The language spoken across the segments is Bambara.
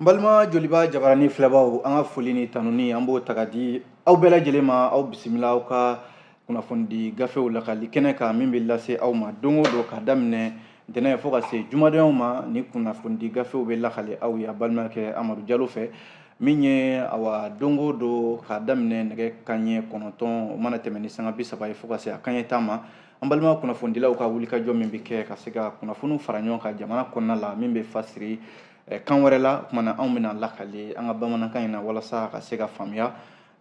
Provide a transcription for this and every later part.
n balima joliba jabarani filɛbaaw an ka foli ni tanuni an b'o ta ka di aw bɛɛ lajɛlen ma aw bisimila aw ka kunnafonidi gafew lakali kɛnɛ kan min bɛ lase aw ma don o don ka daminɛ ntɛnɛn fo ka se jumadonyaw ma ni kunnafonidi gafew bɛ lakali aw ye a balimakɛ amadu jalo fɛ min ye awa don o don ka daminɛ nɛgɛ kanɲɛ kɔnɔntɔn o mana tɛmɛn ni sanga bi saba ye fo ka se a kanɲɛ tan ma an balima kunnafonidilaw ka wulikajɔ min bɛ kɛ ka se ka kunnafoniw fara ɲɔgɔn kan jamana kɔnɔna la min bɛ fasiri eh, kan wɛrɛ la o kumana anw bɛna lakali an ka bamanankan in na walasa ka se ka faamuya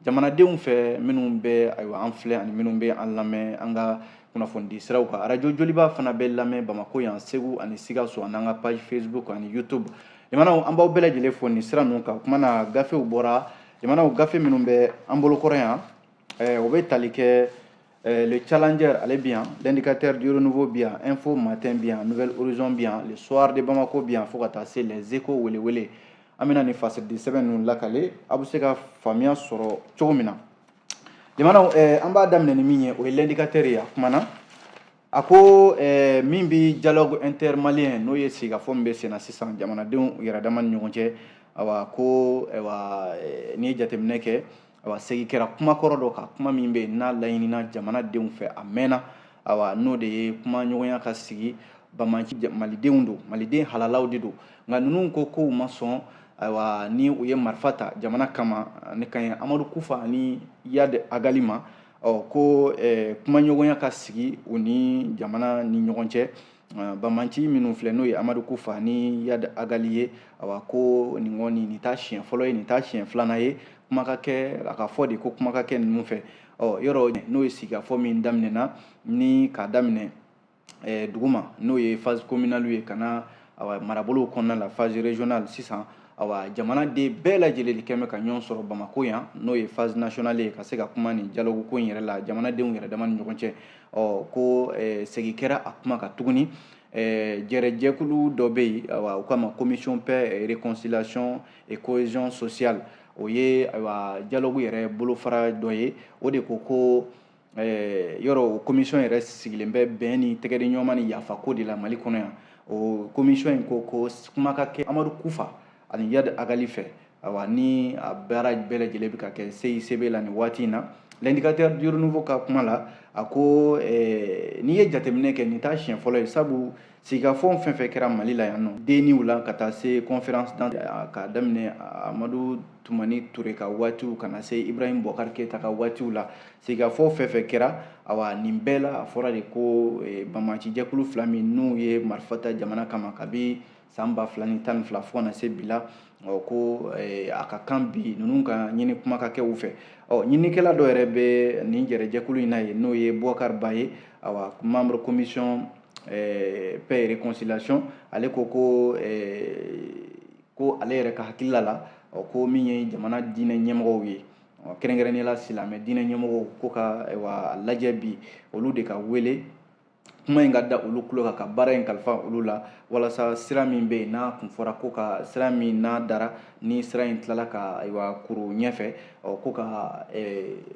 jamanadenw fɛ minnu bɛ ayiwa an filɛ ani minnu bɛ an lamɛn an ka kunnafonidi siraw kan arajo joliba fana bɛ lamɛn bamako yan segu ani sikaso an'an ka page facebook ani youtube jamanaw an b'aw bɛɛ lajɛlen fo nin sira ninnu kan o kumana gafew bɔra jamanaw gafe minnu bɛ an bolokɔrɔ yan eh, o bɛ tali kɛ Euh, le Challenger, ale bɛ yan. L'indicateur du renouveau bɛ yan. Info matin bɛ yan. Nouvel Horizon bɛ yan. Le soir de Bamako bɛ yan. Fo ka taa se les échos wele wele. An bɛna nin fasiri sɛbɛn ninnu lakale. Aw bɛ se ka faamuya sɔrɔ cogo min na. Jamanaw eh, an b'a daminɛ ni min ye o ye l'indicateur ye a kumana. A ko eh, min bɛ dialogue intermalien n'o ye sigikafɔ min bɛ senna sisan jamanadenw yɛrɛ dama ni ɲɔgɔn cɛ awa ko awa eh, n'i ye jateminɛ kɛ awa segi kɛra kuma kɔrɔ dɔ kan kuma min bɛ n'a laɲinina jamanadenw fɛ a mɛnna awa n'o de ye kuma ɲɔgɔnya ka sigi banbaanci malidenw don maliden halalaw de don nka ninnu ko k'u ma sɔn ayiwa ni u ye marifa ta jamana kama ne ka ɲi amadu kufa ani iyad agali ma ɔ ko eh, kuma ɲɔgɔnya ka sigi u ni jamana ni ɲɔgɔn cɛ Ah, banbaanci minnu filɛ n'o ye amadu kufa ni iyad agali ye awa ko nin kɔni nin t'a siɲɛ fɔlɔ ye nin t'a siɲɛ filanan ye kuma ka kɛ a ka fɔ de ko kuma ka kɛ ninnu fɛ ɔ yɔrɔ n'o ye sigikafɔ min daminɛna ni k'a daminɛ eh, duguma n'o ye phase communale ye ka na awa marabolow kɔnɔna la phase régionale sisan awa jamanaden bɛɛ lajɛlen de kɛ bɛ ka ɲɔgɔn sɔrɔ bamako yan n'o ye phase nationale ye ka se ka kuma nin dialogue ko in yɛrɛ la jamanadenw yɛrɛ dama ni ɲɔgɔn cɛ ɔ ko eh, segi kɛra a kuma kan tuguni eh, jɛrɛjɛkulu dɔ bɛ yen awa u k'a ma commission paix et réconciliation et cohésion sociale o ye ayiwa dialogue yɛrɛ bolofara dɔ ye o de ko ko eh, yɔrɔ o commission yɛrɛ sigilen bɛ bɛn ni tɛgɛdi ɲɔgɔnma ni yafako de la mali kɔnɔ yan o commission in ko ko kuma ka kɛ amadu kufa ani iyadi agali fɛ awa ni a baara bɛɛ lajɛlen bɛ ka kɛ CICB la nin waati in na l'indicateur du renouveau ka kuma la a ko eh, n'i ye jateminɛ kɛ nin t'a siɲɛ fɔlɔ ye sabu sigikafɔw fɛn fɛn kɛra mali la yan n'o DNIw la ka taa se conférence d'entente ka daminɛ amadu tumani ture ka waatiw ka na se ibrahim bubakari keyita ka waatiw la sigikafɔw fɛn fɛn kɛra awa nin bɛɛ la a fɔra de ko eh, banbaancijɛkulu fila min n'u ye marifa ta jamana kama kabi san ba fila ni tan ni fila fo ka na se bi la ɔ ko eh, a ka kan bi ninnu ka ɲini kuma ka kɛ u fɛ ɔ ɲinikɛla dɔ yɛrɛ bɛ nin jɛrɛjɛkulu in na ye n'o ye bubakari ba ye awa membre commission eh, paix et réconciliation ale ko ko eh, ko ale yɛrɛ ka hakilila la ɔ ko min ye jamana diinɛ ɲɛmɔgɔw ye kɛrɛnkɛrɛnnenya la silamɛ diinɛ ɲɛmɔgɔw ko k'a lajɛ bi olu de ka wele kuma in ka da olu tulo kan ka baara in kalifa olu la walasa sira min bɛ yen n'a kun fɔra ko ka sira min n'a dara ni sira in tilala ka ayiwa kuru ɲɛfɛ ɔ ko ka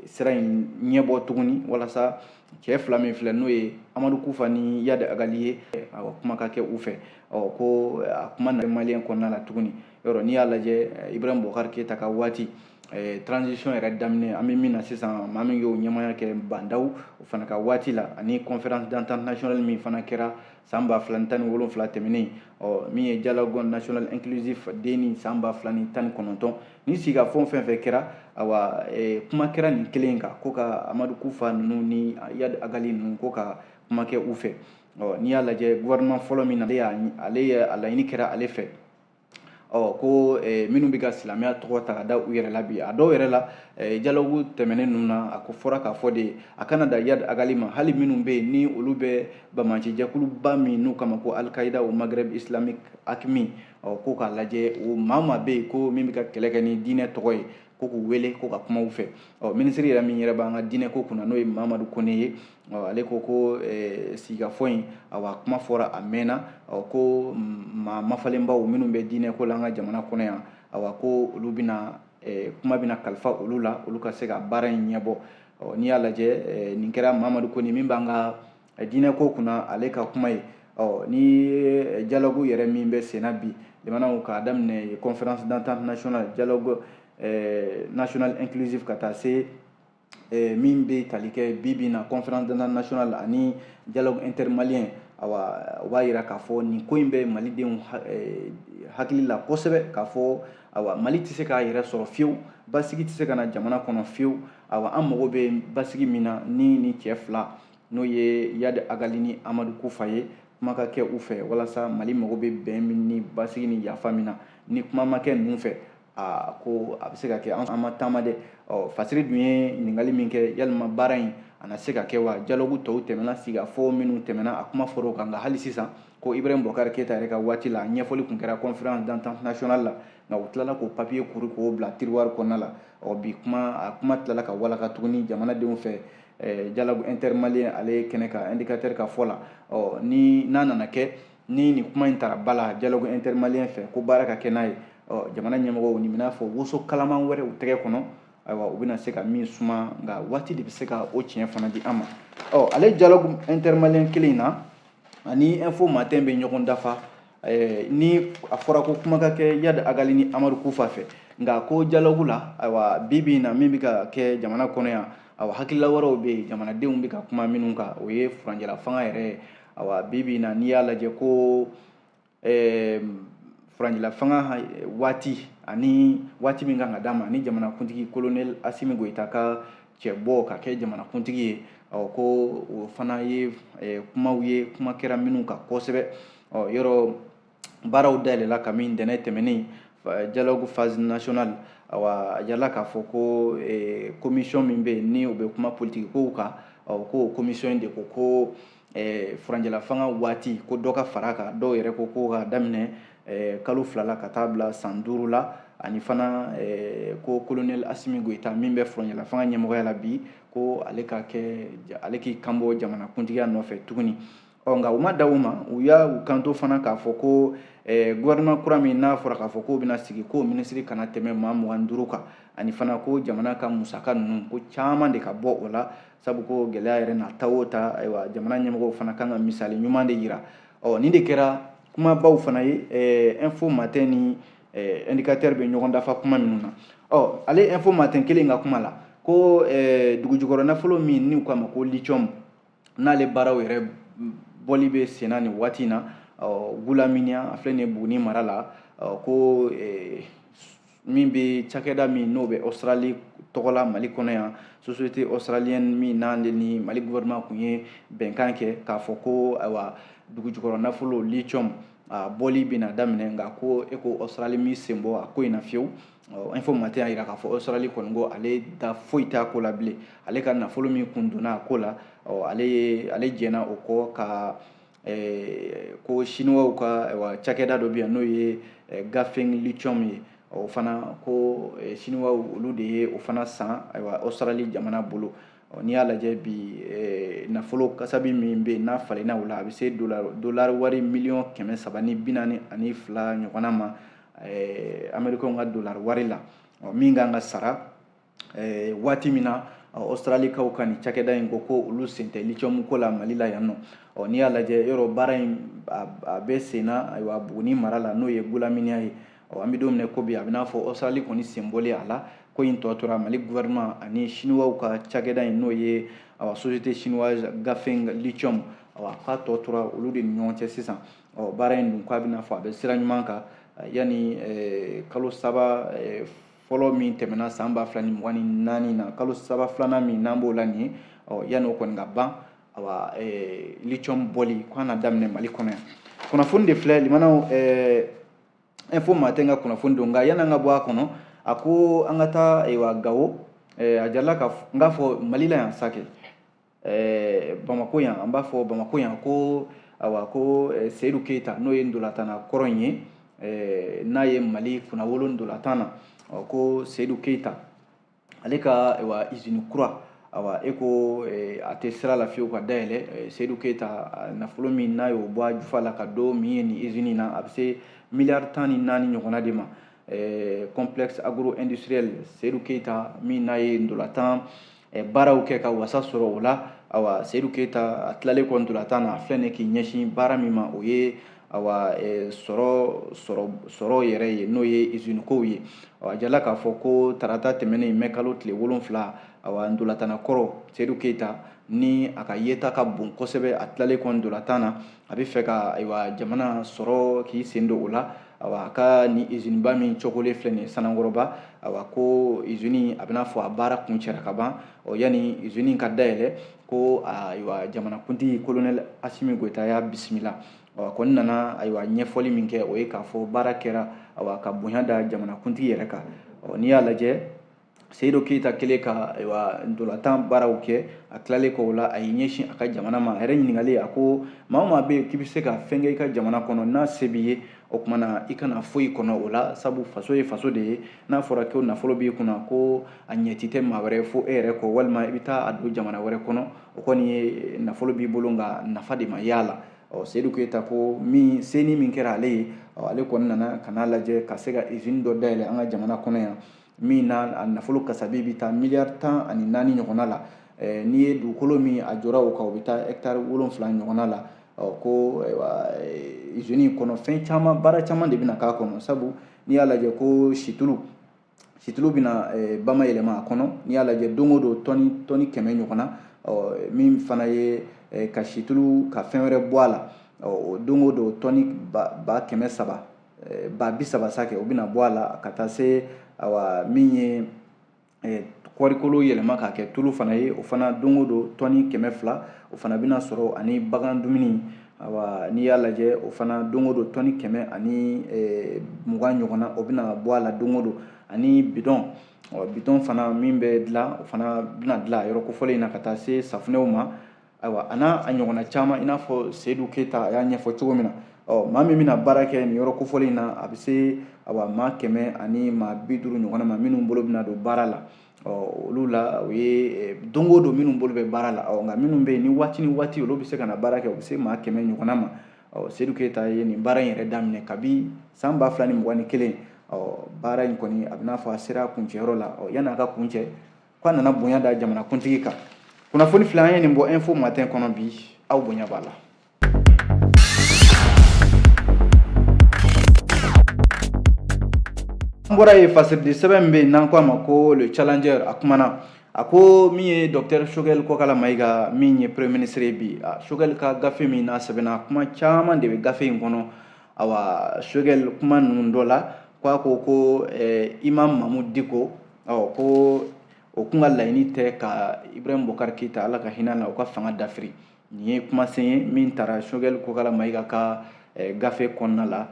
sira in ɲɛbɔ tuguni walasa cɛ fila min filɛ n'o ye amadu kufa ni yadi agali ye awa kuma ka kɛ u fɛ ɔ ko a kuma na maliyɛn kɔnɔna la tuguni yɔrɔ n'i y'a lajɛ ibrahim bubakari keyita ka waati Eh, transition yɛrɛ daminɛ an bɛ min na sisan maa min y'o ɲɛmaya kɛ ba ndaw o fana ka waati la ani conférence d'entente nationale min fana kɛra san ba fila ni tan ni wolonfila tɛmɛnen ɔ min ye dialogue national inclusif den ni san ba fila ni tan ni kɔnɔntɔn ni sigikafɔ fɛn fɛn kɛra awa eh, kuma kɛra nin kelen kan ko ka amadu kufa ninnu ni yad agali ninnu ko ka kuma kɛ u fɛ ɔ n'i y'a lajɛ gouvernement fɔlɔ min na ale y'a ale ye a laɲini kɛra ale fɛ ɔ ko eh, minnu bɛ ka silamɛya tɔgɔ ta ka da u yɛrɛ la bi a dɔw yɛrɛ la eh, dialogue tɛmɛnen ninnu na a ko fɔra k'a fɔ de a kana da yad agali ma hali minnu bɛ yen ni olu bɛ banbaanci jɛkuluba min n'u k'a ma ko al-qaïda au maghreb islamique aqmi ɔ ko k'a lajɛ o maa maa bɛ yen ko min bɛ ka kɛlɛ kɛ ni diinɛ tɔgɔ ye ko k'u wele ko ka kuma u fɛ ɔ minisiri yɛrɛ min yɛrɛ b'an ka diinɛ ko kunna n'o ye mamadu kone ye ɔ ale ko ko eh, sigikafɔ in awa kuma fɔra a mɛnna ɔ ko maa mafalenbaw minnu bɛ diinɛ ko la an ka jamana kɔnɔ yan awa ko olu bɛna eh, kuma bɛna kalifa olu la olu ka se ka baara in ɲɛbɔ ɔ n'i y'a lajɛ eh, nin kɛra mamadu kone min b'an ka diinɛ ko kunna ale ka kuma ye ɔ ni dialogue yɛrɛ min bɛ senna bi jamanaw k'a daminɛ conférence d'entente nationale dialogue eh, national inclusive ka taa se eh, min bɛ tali kɛ bi bi na conférence d'entente nationale ani dialogue intermalien awa o b'a yira k'a fɔ nin ko in bɛ malidenw eh, hakili la kosɛbɛ k'a fɔ awa mali tɛ se k'a yɛrɛ sɔrɔ fiyewu basigi tɛ se ka na jamana kɔnɔ fiyewu awa an mago bɛ basigi min na ni nin cɛ fila n'o ye yadi agali ni amadu kufa ye kuma ka kɛ u fɛ walasa mali mago bɛ bɛn min ni basigi ni yafa min na ni kuma ma kɛ ninnu fɛ aa ko a bɛ se ka kɛ an ma taama dɛ ɔ fasiri dun ye ɲininkali min kɛ yalima baara in a na se ka kɛ wa dialogue tɔw tɛmɛna sigikafɔ minnu tɛmɛna a kuma fɔra o kan nka hali sisan ko ibrahim bubakari keyita yɛrɛ ka waati la ɲɛfɔli tun kɛra conférence d'entente nationale la nka u tilala k'o papiye kuru k'o bila tiruwari kɔnɔna la ɔ bi kuma a kuma tilala ka walaka tuguni jamanadenw fɛ eh, dialogue intermalien ale ye kɛnɛ kan indicateur ka fɔ la ɔ ni n'a nana kɛ ni nin kuma in tara ba la dialogue intermalien fɛ ko baara ka kɛ n'a ye ɔ jamana ɲɛmɔgɔw nin b'i n'a fɔ woso kalaman wɛrɛ u tɛgɛ kɔnɔ ayiwa u bɛna se ka min suma nka waati de bɛ se ka o tiɲɛ fana di an ma ɔ ale dialogue intermalien kelen in na ani info matin bɛ ɲɔgɔn dafa eh, ni a fɔra ko kuma ka kɛ yad agali ni amadu kufa fɛ nka ko dialogue la ayiwa bi bi in na min bɛ ka kɛ jamana kɔnɔ yan awa hakilila wɛrɛw bɛ yen jamanadenw bɛ ka kuma minnu kan o ye furanjɛla fanga yɛrɛ ye awa bi bi in na n'i y'a lajɛ ko ɛɛ furanjɛla fanga eh, waati ani waati min kan ka d'a ma ni jamanakuntigi kolonɛli asimi goyita ka cɛbɔ ka kɛ jamanakuntigi ye ɔ ko o fana ye eh, kumaw ye kuma kɛra minnu kan kosɛbɛ ɔ yɔrɔ baaraw dayɛlɛla kamini ntɛnɛn tɛmɛnen dialogue phase nationale awa a jirala k'a fɔ ko eh, commission min bɛ yen ni o bɛ kuma politiki kow kan ɔ ko o commission de ko ko eh, furanjɛlafanga waati ko dɔ ka far'a kan dɔw yɛrɛ ko ko ka daminɛ eh, kalo fila la ka taa bila san duuru la ani fana eh, ko kolonɛli asimi goyita min bɛ furanjɛlafanga ɲɛmɔgɔya la bi ko ale ka kɛ ale k'i kanbɔ jamanakuntigiya nɔfɛ tuguni ɔ nka u ma dan o ma u y'u kanto fana k'a fɔ ko eh, gouvernement kura min n'a fɔra k'a fɔ k'o bɛna sigi ko minisiri kana tɛmɛ maa mugan duuru kan ani fana ko jamana ka musaka ninnu ko caman de ka bɔ o la sabu ko gɛlɛya yɛrɛ na ta o ta ayiwa jamana ɲɛmɔgɔw fana kan ka misali ɲuman de yira ɔ nin de kɛra kumabaw fana ye eh, info matin ni eh, indicateur bɛ ɲɔgɔn dafa kuma minnu na ɔ ale info matin kelen ka kuma la ko eh, dugujukɔrɔ nafolo min n'u k'a ma ko lithium n'ale baaraw yɛrɛ bɔli bɛ senna nin waati in na ɔ gulaminiya a filɛ nin ye buguni mara la ɔ ko min bɛ cakɛda min n'o bɛ australie tɔgɔ la mali kɔnɔ yan société australienne min n'ale ni mali gouvernement kun ye bɛnkan kɛ k'a fɔ ko ayiwa dugujukɔrɔ nafolo lithium a bɔli bɛna daminɛ nka ko e ko australie b'i sen bɔ a ko in na fiyewu info matin y'a jira k'a fɔ australie kɔni ko ale da foyi t'a ko la bilen ale ka nafolo min kun donna a ko la ale ye ale jɛnna o kɔ ka ɛɛ ko siniwaw ka wa cakɛda dɔ bɛ yan n'o ye ganfeng lithium ye o fana ko siniwaw olu de ye o fana san ayiwa australie jamana bolo n'i y'a lajɛ bi nafolo kasabi min bɛ yen n'a falenna o la a bɛ se dolari wari miliyɔn kɛmɛ saba ni bi naani ani fila ɲɔgɔnna ma amerikɛnw ka dolari wari la min kan ka sara eh, waati min na australikaw ka nin cakɛda in ko ko olu sen tɛ lithium ko la mali la yan nɔ ɔ n'i y'a lajɛ yɔrɔ baara in a bɛ senna ayiwa buguni mara la n'o ye gulaminiya ye ɔ an bɛ don min na ko bi a bɛ n'a fɔ australie kɔni sen bɔlen a la ko in tɔ tora mali gouvernement ani chinois ka cakɛda in n'o ye awa société chinoise ganfeng lithium awa k'a tɔ tora olu de ni ɲɔgɔn cɛ sisan ɔ baara in dun k'a bɛ n'a fɔ a bɛ sira ɲuman kan yanni kalo saba fɔlɔ min tɛmɛna san ba fila ni mugan ni naani na kalo saba filanan min n'an b'o la nin ye ɔ yanni o kɔni ka ban awa eh, lithium bɔli k'a na daminɛ mali kɔnɔ yan kunnafoni de filɛ limanaw eh, info matin ka kunnafoni don nka yanni an ka bɔ a kɔnɔ a ko an ka taa ayiwa gawo eh, a jirala ka n k'a fɔ mali la yan sanko eh, bamakɔ yan an b'a fɔ bamakɔ yan ko awa ko eh, seyidu keyita n'o ye ntolatanna kɔrɔ in ye eh, n'a ye mali kunnawolo ntolatan na ɔ ko seyidu keyita ale ka awa izini kura awa e ko eh, a tɛ sira la fiyewu ka dayɛlɛ eh, seyidu keyita ah, nafolo min n'a y'o bɔ a jufa la k'a don min ye nin izini na a bɛ se miliyari tan ni naani ɲɔgɔnna de ma eh, complexe agro industriel seyidu keyita min n'a ye ntolatan eh, baaraw kɛ ka wasa sɔrɔ o la awa seyidu keyita a tilalen kɔ ntolatan na a filɛ nin k'i ɲɛsin baara min ma o ye awa eh, sɔrɔ sɔrɔ yɛrɛ ye n'o ye usine kow ye a jirala k'a fɔ ko tarata tɛmɛnen mɛ kalo tile wolonfila awa ntolatanna kɔrɔ seyidu keyita ni a ka yeta ka bon kosɛbɛ a tilalen kɔ ntolatan na a bɛ fɛ ka ayiwa jamana sɔrɔ k'i sen don o la awa a ka nin iziniba min cookolen filɛ nin sanankɔrɔba awa ko izini a bɛ n'a fɔ a baara kuncɛra ka ban ɔ yanni izini ka dayɛlɛ ko ayiwa jamanakuntigi kolonɛli asimi goyita y'a bisimila ɔ a kɔni nana ayiwa ɲɛfɔli min kɛ o ye k'a fɔ baara kɛra awa ka bonya da jamanakuntigi yɛrɛ kan ɔ n'i y'a lajɛ seyidu keyita kɛlen ka ayiwa ntolantan baaraw kɛ a tilalen kɔ o la a y'i ɲɛsin a ka jamana ma a yɛrɛ ɲininkalen a ko maa o maa bɛ yen k'i bɛ se ka fɛn kɛ i ka jamana kɔnɔ n'a se b'i ye o tuma na i kana foyi kɔnɔ o la sabu faso ye faso de ye n'a fɔra ko nafolo b'i kunna ko a ɲɛci tɛ maa wɛrɛ fo e yɛrɛ kɔ walima i bɛ taa a don jamana wɛrɛ kɔnɔ o kɔni ye nafolo b'i bolo nka nafa tɛ maa y'a la ɔ seyidu keyita ko min se nin min kɛra ale ye ale kɔni nana ka n'a lajɛ ka se ka izini dɔ dayɛlɛ an ka jamana kɔnɔ yan min na a nafolo kasabi bɛ taa miliyari tan ani naani ɲɔgɔnna la eh, n'i ye dugukolo min a jɔra o kan o bɛ taa hɛkitari wolonfila ɲɔgɔnna la ko izini in kɔnɔ fɛn caman baara caman de bɛna k'a kɔnɔ sabu n'i y'a lajɛ ko situlu situlu bɛna eh, bama yɛlɛma a kɔnɔ n'i y'a lajɛ don o don tɔni tɔni kɛmɛ ɲɔgɔnna min fana ye ka situlu ka fɛn wɛrɛ bɔ a la don o don tɔni ba kɛmɛ saba eh, ba bi saba sakɛ o bɛna bɔ a la ka taa se awa min ye eh, kɔɔrikolo yɛlɛma k'a kɛ tulu fana ye o fana don o don tɔni kɛmɛ fila o fana bɛna sɔrɔ ani bagan dumuni awa n'i y'a lajɛ o fana don o don tɔni kɛmɛ ani eh, mugan ɲɔgɔnna o bɛna bɔ a la don o don ani bidɔn bidɔn fana min bɛ dilan o fana bɛna dilan yɔrɔ kofɔlen in na ka taa se safunɛw ma ayiwa a n'a ɲɔgɔnna caman i n'a fɔ seyidu keyita a y'a ɲɛfɔ cogo min na ɔ maa min bɛna baara kɛ nin yɔrɔ kofɔlen in na a bɛ se awa maa kɛmɛ ani maa bi duuru ɲɔgɔnna ma minnu bolo bɛna don baara la ɔ olu la o ye eh, don o don minnu bolo bɛ baara la ɔ nka minnu bɛ yen ni waati ni waati olu bɛ se ka na baara kɛ u bɛ se maa kɛmɛ ɲɔgɔnna ma ɔ seyidu keyita ye nin baara in yɛrɛ daminɛ kabi san ba fila ni mugan ni kelen ɔ baara in kɔni a bɛ n'a fɔ a sera kuncɛyɔrɔ la ɔ yanni a ka kuncɛ k'a nana bonya da jamanakuntigi kan kunnafoni fila an ye nin bɔ info matin kɔnɔ bi aw bonya b'a la an bɔra yen fasiridi sɛbɛn min bɛ yen n'an ko a ma ko le challenger a kumana a ko min ye dɔktɛr sogɛl kɔkala mayiga min ye premier ministre ye bi sogɛl ka gafe min n'a sɛbɛnna kuma caman de bɛ gafe in kɔnɔ awa sogɛl kuma ninnu dɔ la ko a ko ko eh, imam mamudu diko ɔ ko o kun ka laɲini tɛ ka ibrahim bokari keyita ala ka hinɛ a na o ka fanga dafiri nin ye kumasen ye min tara sogɛli kokala mayiga ka eh, gafe kɔnɔna la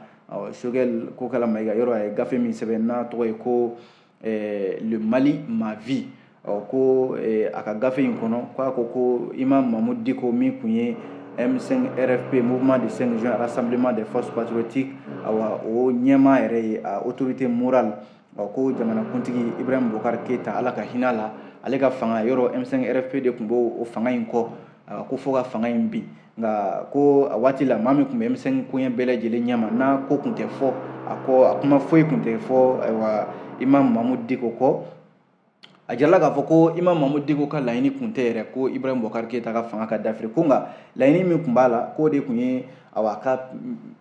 sogɛli kokala mayiga yɔrɔ a ye gafe min sɛbɛn n'a tɔgɔ ye ko eh, le mali ma vie ko eh, a ka gafe in kɔnɔ k'a ko ko imam mamudu diko min kun ye M5 RFP mouvement du 5 juin rassemblement des forces patriotiques awa o ɲɛmaa yɛrɛ ye a autorité morale ɔ ko jamanakuntigi ibrahim bokar keyita ala ka hinɛ a la ale ka fanga yɔrɔ m5 rfp de tun b'o fanga in kɔ ko fo ka fanga in bin nka ko a waati la maa min tun bɛ m5 koɲɛ bɛɛ lajɛlen ɲɛma n'a ko tun tɛ fɔ a kɔ a kuma foyi tun tɛ fɔ ayiwa imam mamudu diko kɔ a jirala k'a fɔ ko imam mamudu diko ka laɲini kun tɛ yɛrɛ ko ibrahim bɔkari keyita ka fanga ka dafiri ko nka laɲini min tun b'a la k'o de tun ye awa ka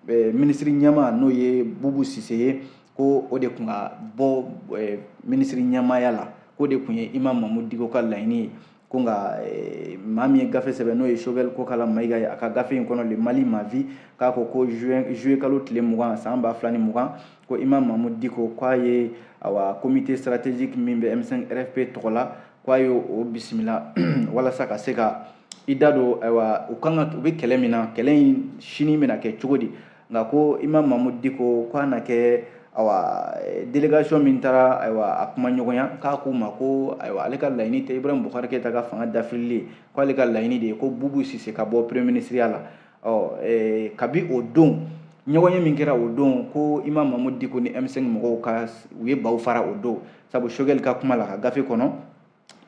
eh, minisiri ɲɛmaa n'o ye bubu sise ye ko o de tun ka bɔ eh, minisiri ɲɛmaaya la k'o de tun ye imam mamudu diko ka laɲini ye ko nka eh, maa min ye gafe sɛbɛn n'o ye sogɛli kokala mayiga ye a ka gafe in kɔnɔ le mali ma vie k'a ko ko juillet kalo tile mugan san ba fila ni mugan ko imam mamudu diko k'a ye awa comité stratégique min bɛ m5 rfp tɔgɔ la k'a ye o bisimila walasa ka se ka i da don ayiwa u ka u bɛ kɛlɛ min na kɛlɛ in sini bɛna kɛ cogo di nka ko Imam Mahamud Diko k'a na kɛ ayiwa délégation min taara ayiwa a kuma ɲɔgɔnya k'a k'u ma ko ayiwa ale ka laɲini tɛ Ibrahim Bubakari Keyita ka fanga dafirili k'ale ka laɲini de ye ko bubu sise ka bɔ premier ministreya la ɔ kabi o don ɲɔgɔnye min kɛra o don ko Imam Mahamud Diko ni M5 mɔgɔw ka u ye baw fara o don sabu Choguel ka kuma la ka gafe kɔnɔ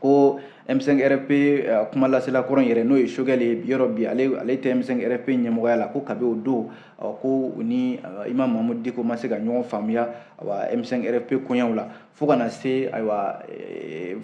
ko M5RFP euh, kuma lasela kɔrɔ yɛrɛ n'o ye Choguel ye yɔrɔ bi ale ale tɛ M5RFP ɲɛmɔgɔya la ko kabi o don euh, ko u ni euh, Imam Mahamud Diko ma se ka ɲɔgɔn faamuya awa M5RFP koɲɛw la fo ka na se ayiwa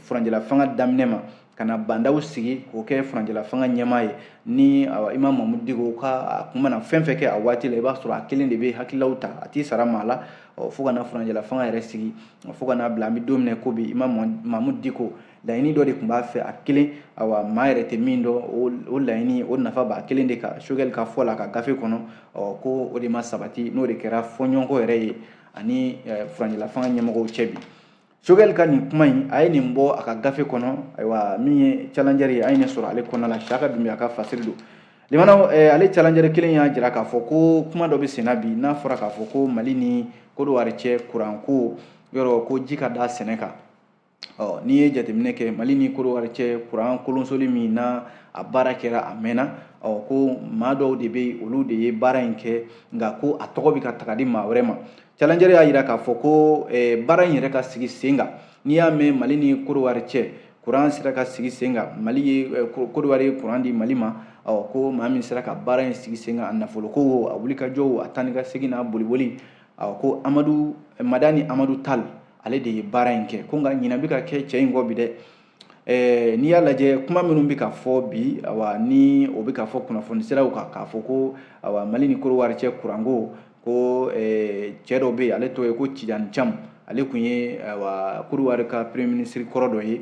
furanjɛla fanga daminɛ ma ka na Ba Ndaw sigi k'o kɛ furanjɛla fanga ɲɛmaa ye ni awa Imam Mahamud Diko ka a kun mana fɛn fɛn kɛ a waati la i b'a sɔrɔ a kelen de bɛ hakililaw ta a t'i sara maa la fo ka na furanjɛla fanga yɛrɛ sigi fo ka n'a bila an bɛ don min na ko bi Imam Mahamud Diko laɲini dɔ de tun b'a fɛ a kelen awa maa yɛrɛ tɛ min dɔn o laɲini o nafa b'a kelen de kan Choguel ka fɔ la ka gafe kɔnɔ ɔ ko o de ma sabati n'o de kɛra fɔɲɔgɔnkɔ yɛrɛ ye ani furanjɛla fanga ɲɛmɔgɔw cɛ bi Choguel ka nin kuma in a ye nin bɔ a ka gafe kɔnɔ ayiwa min ye challenger ye an ye nin sɔrɔ ale kɔnɔna la Siyaka Dunbiya ka fasiri don Limana ale challenger kelen y'a jira k'a fɔ ko kuma dɔ bɛ senna bi n'a fɔra k'a fɔ ko mali ni kodowari cɛ kuran ko yɔrɔ ko ji ka da sɛnɛ kan ɔ n'i ye jateminɛ kɛ mali ni kodowari cɛ kuran kolonsoli min na a baara kɛra a mɛnna ɔ ko maa dɔw de bɛ olu de ye baara in kɛ nka ko a tɔgɔ bɛ ka taga di maa wɛrɛ ma challenger y'a jira k'a fɔ ko baara in yɛrɛ ka sigi sen kan n'i y'a mɛn mali ni kodowari cɛ kuran sera ka sigi sen kan mali ye eh, kodowari ye kuran di mali ma ɔ ko maa min sera ka baara in sigi sen kan a nafoloko o a wulikajɔ o a taa ni ka segin n'a boliboli ɔ ko amadu eh, madani amadu tal ale de ye baara in kɛ ko nka ɲinan bɛ ka kɛ cɛ in kɔ bi dɛ eh, n'i y'a lajɛ kuma minnu bɛ ka fɔ bi awa ni o bɛ ka fɔ kunnafoni siraw kan k'a fɔ ko awa mali ni kodowari cɛ kuranko ko eh, cɛ dɔ bɛ yen ale tɔgɔ ye ko tijani cam ale tun ye wa kodowari ka premier ministre kɔrɔ dɔ ye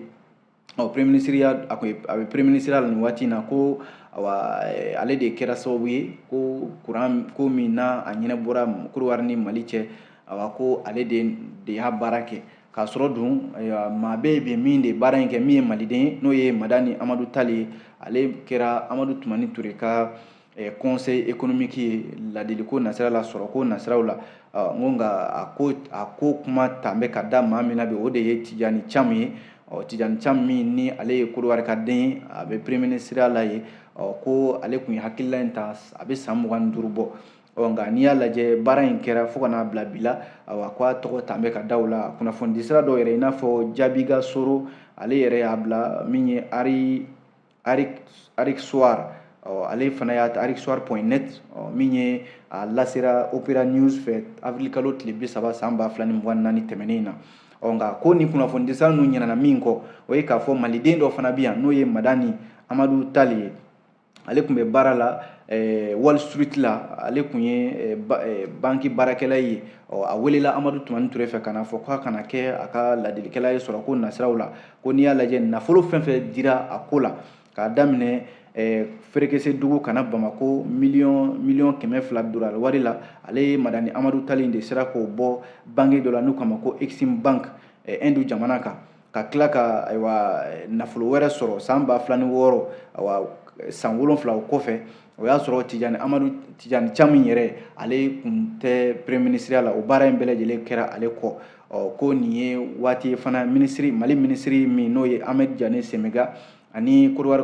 ɔ premier ministreya a tun a bɛ premier ministre la nin waati in na ko awa eh, ale de kɛra sababu ye ko kuran ko min na a ɲɛnabɔra kodowari ni mali cɛ awa ko ale de de y'a baara kɛ k'a sɔrɔ dun eh, maa bɛ yen min de baara in kɛ min ye maliden ye n'o ye madani amadu tali ye ale kɛra amadu tumani ture ka eh, conseil économique ye ladiliko nasira la sɔrɔko nasiraw la ah, n ko nka a ko a ko kuma tan bɛ ka da maa min na bi o de ye tijani camu ye ɔ tijani camu min ni ale ye kodowari ka den ye a bɛ premier ministre la yen ɔ ko ale tun ye hakilila in ta a bɛ san mugan ni duuru bɔ ɔ nka n'i y'a lajɛ baara in kɛra fo ka n'a bila bi la awa ko a tɔgɔ tan bɛ ka da o la kunnafonidisira dɔw yɛrɛ i n'a fɔ jaabiga soro ale yɛrɛ y'a bila min ye ari afriksoir ale fana y'a ta afriksoir point net min ye a lasera opera news fɛ avril kalo tile bi saba san ba fila ni mugan naani tɛmɛnen in na ɔ nka ko nin kunnafonidiso ninnu ɲinana min kɔ o ye k'a fɔ maliden dɔ fana bɛ yan n'o ye madani amadu tali ye ale tun bɛ baara la eh, wall street la ale tun ye eh, ba, eh, banki baarakɛla ye ɔ a welela amadu tumani ture fɛ ka na fɔ k'a ka na kɛ a ka ladilikɛla ye sɔrɔko nasiraw la ko n'i y'a lajɛ nafolo fɛn fɛn dira a ko la k'a daminɛ eh, ferekesedugu ka na bamako miliyɔn miliyɔn kɛmɛ fila dolari wari la ale ye madani amadu tali de sera k'o bɔ banki dɔ la n'u k'a ma ko exim bank eh, ɛndu jamana kan ka tila ka ayiwa eh, nafolo wɛrɛ sɔrɔ san ba fila ni wɔɔrɔ ayiwa san wolonfila o kɔfɛ o y'a sɔrɔ tijani amadu tijani camu yɛrɛ ale kun tɛ peremiye minisiriya la o baara in bɛɛ lajɛlen kɛra ale kɔ ɔ ko nin ye waati fana minisiri mali minisiri min n'o ye ahmed diane semega ani kodiwari